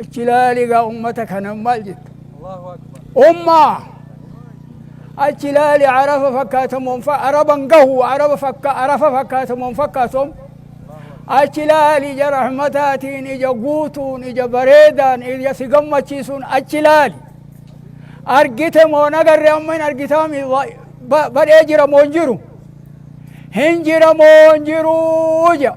achi ilaali egaa ummata kana maal jetta ummaa achi ilaali arafa fakkaatamoon fa araban gahu araba fakka arafa fakkaatamoon fakkaatom achi ilaali ija rahmataatiin ija guutuun ija bareedaan ija si gammachiisuun achi ilaali argite moo nagarre amma hin argitaami badhee jira moo hin jiru hin jira moo hin jiru jedha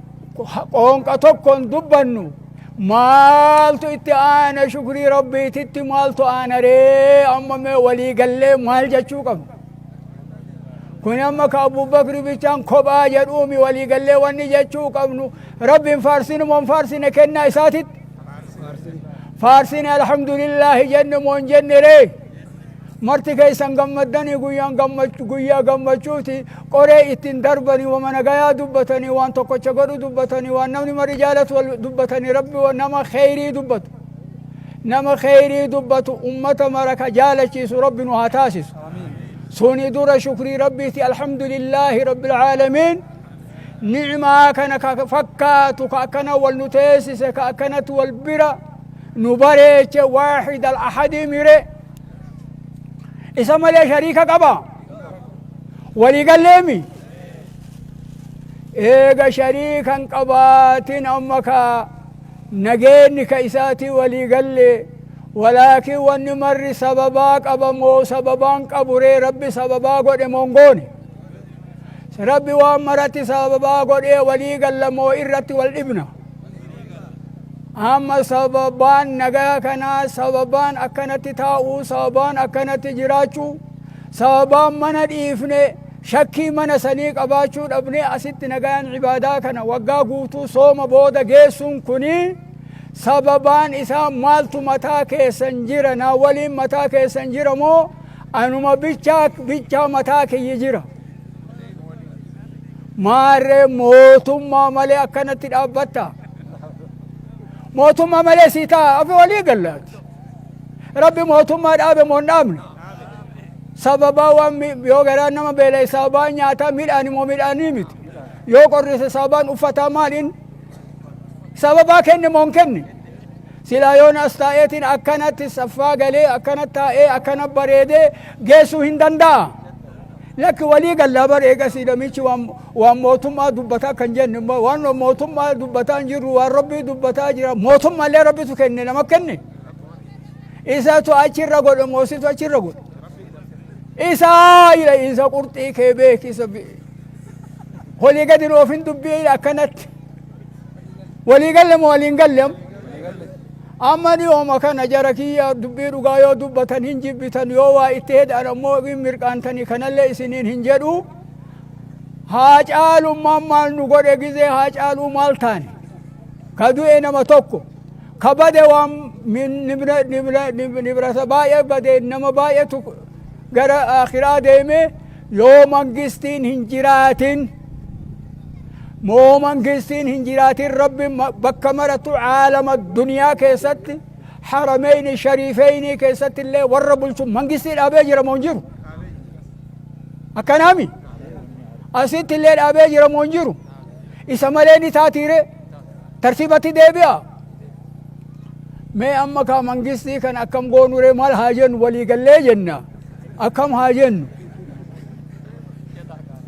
qoonqa tokkoon dubbannu maaltu itti aana shukrii rabbiititti maaltu aana ree amma mee walii gallee maal jechuu qabna kun amma ka abubakri bichaan kophaa jedhuumi walii gallee wanni jechuu qabnu rabbiin faarsinu moon faarsine kennaa isaatitti faarsine alhamdulillaahi jenne moon jenne ree marti keessan gammaddanii guyyaan gammach- guyyaa gammachuuti qoree ittiin darbanii wama nagayaa dubbatanii waan tokkocha godhu dubbatanii waan namni mari jaalatu wal dubbatanii rabbi wa- nama kheyrii dubbatu nama kheyrii dubbatu ummata mara ka jaalachiisu rabbi nu haa taasisu suni dura shukrii rabbiiti alhamdulillaahi rabbilcaalamiin ni'imaa kana ka fakkaatu ka akkana wal nu teessise ka akkanatti wal bira nu bareeche waahid al ahadii mire isa malee shariika qaba walii galleemi eega shariikan qabaatin amma ka nageenni ka isaatii walii galle walaakin wanni marri sababaa qaba moo sababaan qaburee rabbi sababaa godhe mongoone rabbi waan maratti sababaa godhee walii galla moo irratti wal dhibna amma sababaan nagaa kanaa sababaan akkanatti taa'uu sababaan akkanatti jiraachuu sababaan mana dhiifne shakkii mana sanii qabaachuu dhabne asitti nagaan ibaadaa kana waggaa guutuu sooma booda geessuun kuni sababaan isaa maaltu mataa keessan jira naa waliin mataa keessan jira moo Anuma bichaa bichaa mataa kiyya jira. Maarree mootummaa malee akkanatti dhaabbatta. Mootummaa malee sii ta'a afi walii gallaati. Rabbi mootummaa dhaabe moo hin dhaabne. Sababaa waan mi- yoo garaa nama beela'e sababaa nyaataa midhaan immoo midhaanii miti. Yoo qorrisa sababaan uffataa maaliin sababaa kenne moo hin kenne. Silaa yoon as taa'eetiin akkanatti saffaa galee akkana taa'ee akkana bareedee geessuu hin danda'a. Lakki walii gallaa bar eegasii namichi waan, waan mootummaa dubbataa kan jennu immoo waan mootummaa dubbataa hin jirru waan rabbii dubbataa jira mootummaallee rabbitu kenne nama kenne. Isatu achirra godhe moositu achirra godhe. Isaa ila isa qurxii kee beeki isa bi- olii gadi nuuf hin dubbiin akkanatti walii galle moo waliin galle amma? amma dhiyooma kana jara kiyya dubbii dhugaa yoo dubbatan hin jibbitan yoo waa itti heedhaan ammoo hin mirqaantanii kanallee isiniin hin jedhu haa caalummaan maal nu godhe gizee haa caaluu maal taane ka du'e nama tokko ka bade waan min- nibra- nibra- nib- nibrata baay'ee bade nama baay'eetu gara akiraa deeme Yoo mangistiin hin jiraatin moo mangistiin hin jiraatin rabbi bakka maratu caalama duniyaa keessatti harameyni shariifeynii keessatti illee warra bulchu mangistii dhaabee jira moo hin jiru akkanaami asitti illee dhaabee jira moo hin jiru isa malee ni taatiire tartiibatti deebi'a mee amma kaa mangistii kan akkam goonure maal haa jennu walii gallee jenna Akkam haa jennu?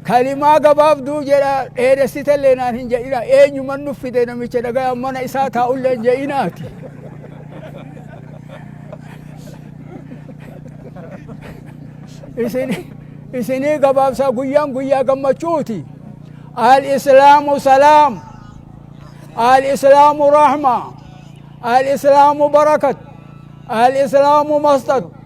Kalimaa gabaabduu jedha dheeressite illee naan hin jedhina. Eenyuman nuuf fide namicha dhagayaan mana isaa taa'u illee hin jedhinaati. Isin isinii gabaabsaa guyyaan guyyaa gammachuuti. Al islaamu salaam. Al islaamu rahma. Al islaamu barakat. Al islaamu masxat.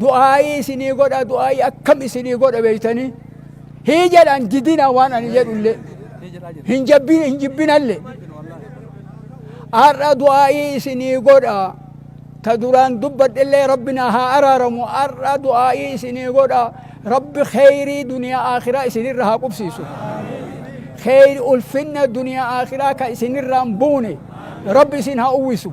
du'aa'ii isinii godha du'aa'ii akkam isinii godha beeytanii hii jedhan didina waan ani jedhullee hin jabbin hin jibbinalle har'a du'aa'ii isinii godha ta duraan dubbadhellee rabbi na haa araaramu har'a du'aa'ii isinii godha rabbi kheyrii duniyaa aakhiraa isinirra haa qubsiisu kheyr ulfinna duniyaa aakhiraa ka isinirraan buune rabbi isin haa uwwisu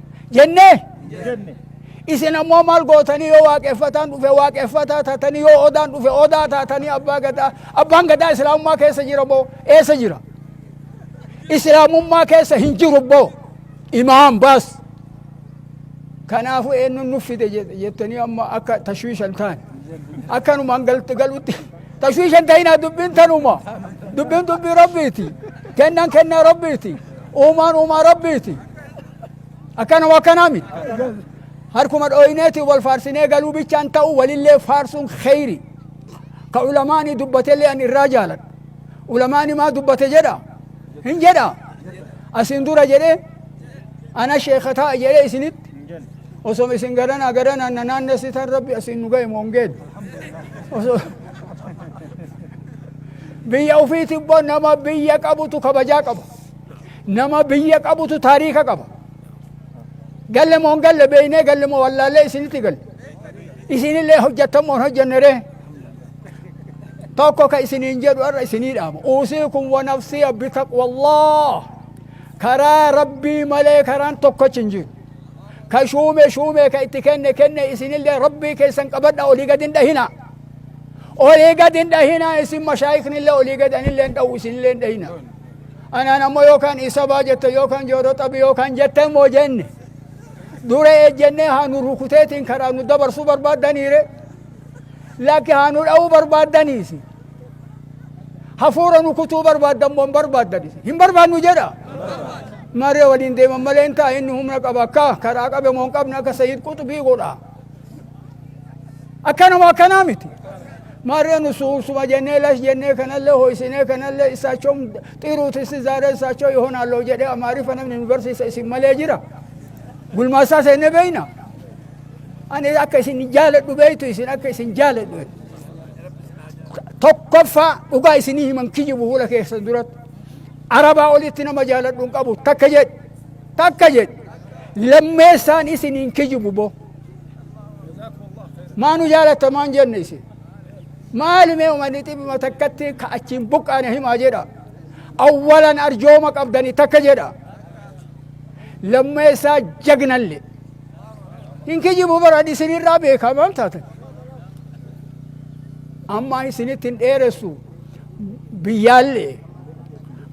jennee isin ammoo maal gootanii yoo waaqeffataan dhufe waaqeffataa taatanii yoo odaan dhufe odaa taatanii abbaa gadaa abbaan gadaa islaamummaa keessa jira boo eessa jira islaamummaa keessa hin jiru boo imaam baas kanaafuu eenyuun nuuf fide jettanii amma akka tashwiishan taan akkanumaan galutti tashwiishan ta'inaa dubbiin tanuma dubbiin dubbii rabbiiti kennan kennaa rabbiiti uumaan uumaa rabbiiti akkanuma akkanaa miti harkuma dhooyneeti wal faarsinee galuu bichaan ta'u walillee faarsuun kheyri ka ulamaanii dubbatellee an irraa jaaladha ulamaani maa dubbate jedha hin jedha asiin dura jedhe ana sheeka ta'a jedhe isinitti osoma isin garanaa garanaa na naannessitan rabbi asiin nu ga'e moongeen osoo biyya ufiiti immoo nama biyya qabutu kabajaa qaba Nama biyya qabutu taariika qaba. Galle moo hin galle beeynee galle moo wallaallee isinitti galle. Isinillee hojjettan moo hin hojjenne ree? Tokko ka isiniin jedhu irra isinii dhaama. Uusiikum wa nafsiya bitaqwallah. Karaa rabbii malee karaan tokkochi hin jiru. Ka shuume shuume ka itti kenne kenne isinillee rabbii keessan qabadha olii gadi hin dhahina. Olii gadi hin dhahina isin mashaayiknillee olii gadi anillee hin dhahu isinillee hin dhahina. Anaan ammoo yookaan isa baa jette yookaan jooroo xabi yookaan jette immoo jenne. Dura ejjennee haa nu rukuteetiin karaa nu dabarsuu barbaaddaniire. Lakki haa nu dha'uu barbaaddaniisi. Hafuura nu kutuu barbaaddan moo hin barbaaddanis. Hin barbaadnu jedha. Maree waliin deeman malee hin ta'a inni humna qaba akka karaa qabe moo hin qabne akka Sayyid Quxubii godha. Akkanuma akkanaa miti. Maarree nus uusuma jennee lash jennee kanallee hooysinee kanallee issaachom xiruut issi zaaree issaachoo ihonaalloo jedhee amaariffa namni nu barsiisa isin malee jira gulmaassaa seennee beeyna ani akka isin jaaladhu beeytu isin akka isin jaaladhu beeytu. tokkoffaa dhugaa isinii himan kijibu fuula keessan duratti arabaa olitti nama jaaladhu hin qabu takka jedhe takka jedhe lammeessaan isiniin kijibu boo maa nu jaalatta maan jenne isin maali mee umanni xibima takkatti ka achiin buqqaane himaa jedha awwalan arjooma qabdani takka jedha lammeessaa jagnalle hin kijibu baran isinirraa beekaman taatan amma isinitti hin dheeressu biyyaalle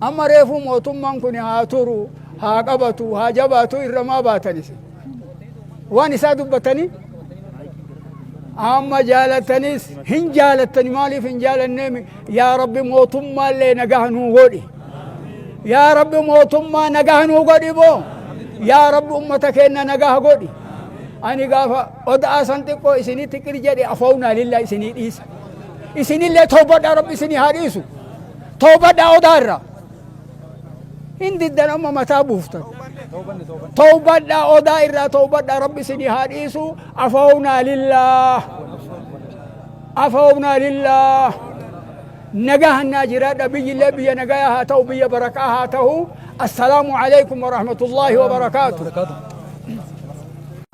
amma reefuu mootummaan kun haa turu haa qabatu haa jabaatu irra maa baatan isin waan isaa dubbatanii amma jaalatanis hin jaalatani maaliif hin jaalanne yaa rabbi mootummaa illee nagaha nuu godhi yaa rabbi mootummaa nagaha nuu godhi boo yaa rabbi ummata keenna nagaha godhi ani gaafa oda'aa san xiqqoo isinii tiqir jedhe afownaa lillaa isinii dhiisa isinillee toobadhaa rabbi isinii haa dhiisu toobadhaa odaa irraa hin diddan amma mataa buuftan tawbadhaa odaa irraa tawbadhaa rabbi isinii haa dhiisu afawnaa lillaah afawnaa lillaah nagaa hannaa jiraadha biyyillee biyya nagayaa haa ta'u biyya barakaa haa ta'u assalaamu alaikum warahmatullaahi wabarakaatu